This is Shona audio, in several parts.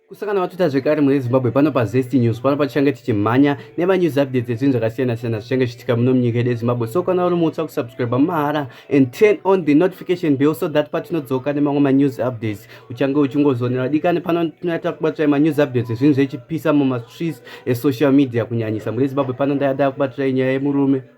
kusangana vatuta zvekare mune zimbabwe pano pazest news pano patichange tichimhanya nevanews updates ezvinhu zvakasiyana siyana zvichange zvichitika muno munyika yedu yezimbabwe so kana uri mutsva kusubscribe mahara and turn on the notification bill so that patinodzoka nemamwe manews updates uchange uchingozonera dikani pano tinoita kubatirai manews updates ezvinhu zvechipisa mumastreets esocial media kunyanyisa mune zimbabwe pano ndaya ndaya kubatirai nyaya yemurume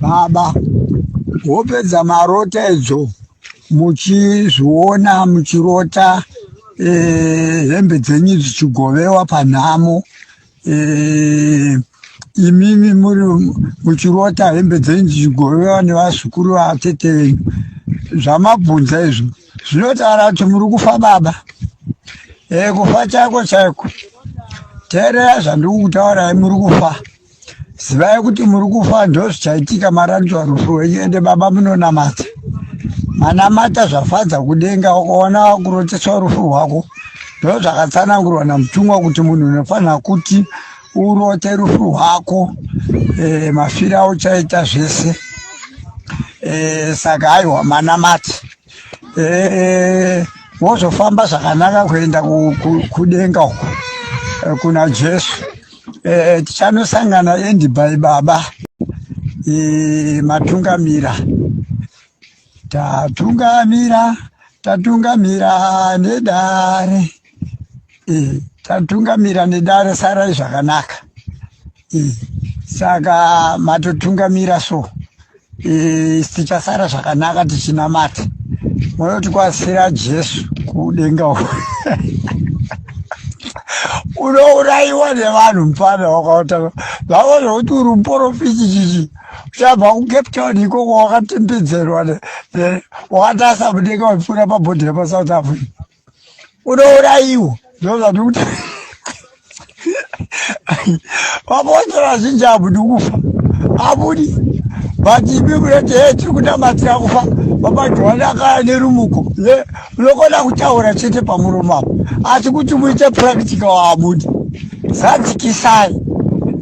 baba wopedza marota idzo muchizviona muchirota eh, hembe dzenyu dzichigovewa panhamo eh, imimi muri muchirota hembe dzenyu dzichigovewa nevazukuru vatete venyu zvamabvunza izvo zvinotaura kuti muri kufa baba e, kufa chako chaiko teerera zvandiri kutaura muri kufa zivai kuti muri kufa ndozvichaitika maranzwa rufu wenyu ende baba munonamata manamata zvafadza kudenga ukaona wakuroteswa rufu rwako ndo zvakatsanangurwa namutumwa kuti munhu unofanira kuti urote rufu rwako e, mafira auchaita zvese e, saka aiwa manamati e, wozofamba zvakanaka kuenda kudenga uko kuna jesu Eh, tichanosangana endi by baba eh, matungamira tatungamira tatungamira nedare eh, tatungamira nedare sarai zvakanaka eh, saka matotungamira so Eh, tichasara zvakanaka tichinamata munoti kwasira jesu kudenga unourayiwa nevanhu mfana wakaota vavo zvekuti uri muporofiti chichi uchabva kucape town ikoko wakatembedzerwa wakatarisa mudenga waipfuura pabhodhi repasouth africa unouraiwa ndozvati kuti vabote vazhinji abudi kufa abudi but ibi munoti he tiri kunamatira kufa vabajohani akaya nerumuko ye unokona kutaura chete pamuromo apo asi kuti muite practica waabudi zadzikisai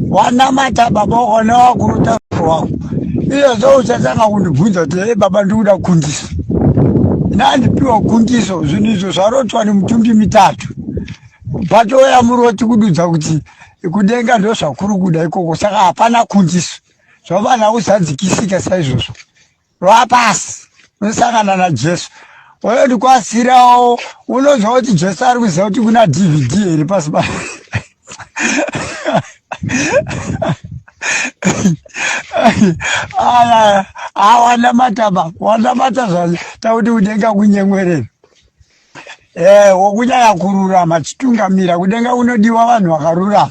wanamata baba wakaona wakurota wako iyozvo uchatanga kundibvunza kuti he baba ndikuda kundisa ndandipiwa gundiso zvinhu izvo zvarotwa nemutumbi mitatu batoya muroti kududza kuti kudenga ndo zvakuri kuda ikoko saka hapana kundiso zvavana uzadzikisika saizvozvo vapasi unosangana najesu oyo ndikwasirawo unonzwa kuti jesu ari kuziva kuti kuna dvd here pasi pa aya awana mataba wanamata zvacho takuti kudenga kunyemwerera e eh, wokunyaya kururama chitungamira kudenga kunodiwa vanhu vakarurama